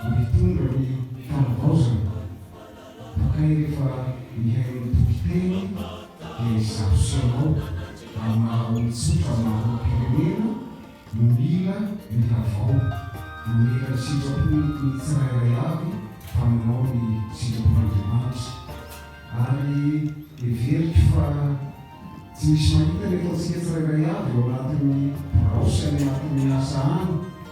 Vao hitondra ny fanavaozana, bakay rehefa mihaino ny tokiteny dia izaho sy ianao amin'ny maha olon-tsotra maraim-pirenena no mila ny havao, no mila ny sitrapon'ny tsirairay avy fa manao ny sitrapon'Andriamanitra. Ary heveriko fa tsy misy mahita ny ataontsika tsirairay avy ao anatin'ny birao sy any anatin'ny asa any.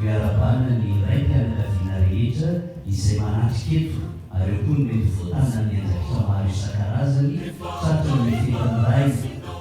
Miarabanina ny raim-pianakaviana rehetra izay manatrika eto ary eo koa ny mety ho voatazan'ny andraikitra maro isan-karazany tratry ny fetin'ny Ray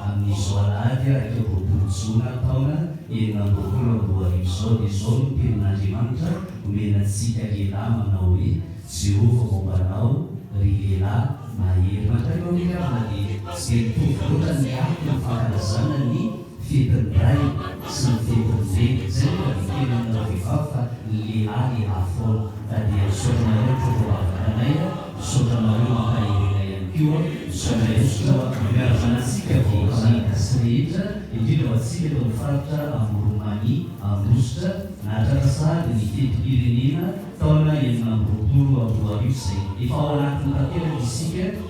amin'izao alahady iraika amby roapolo jona taona enina amby roapolo amby roa arivo izao dia izao no tenin'Andriamanitra omena antsika lehilahy manao hoe Jehovah momba anao ry lehilahy mahery Matayo Aminy Ravina dia tsy dia mitovy loatra ny akony fankalazana ny Fidin'ny ray sy ny fidin'ny reny. Izay no adikely aminareo vehivavy fa ny lehilahy lehilahy foana. Ka dia misaotra anareo mpitondra vavaka anay a, misaotra anareo mampahery anay ihany koa. Misaotra indrindra fa miara-manao antsika vahoaka malagasy rehetra, indrindra ho antsika eto amin'ny faritra Amoron'Mania, Ambositra, nahatratra sahady ny fetim-pirenena taona enina amby roapolo amby roa arivo izay efa ao anatiny tanteraka isika.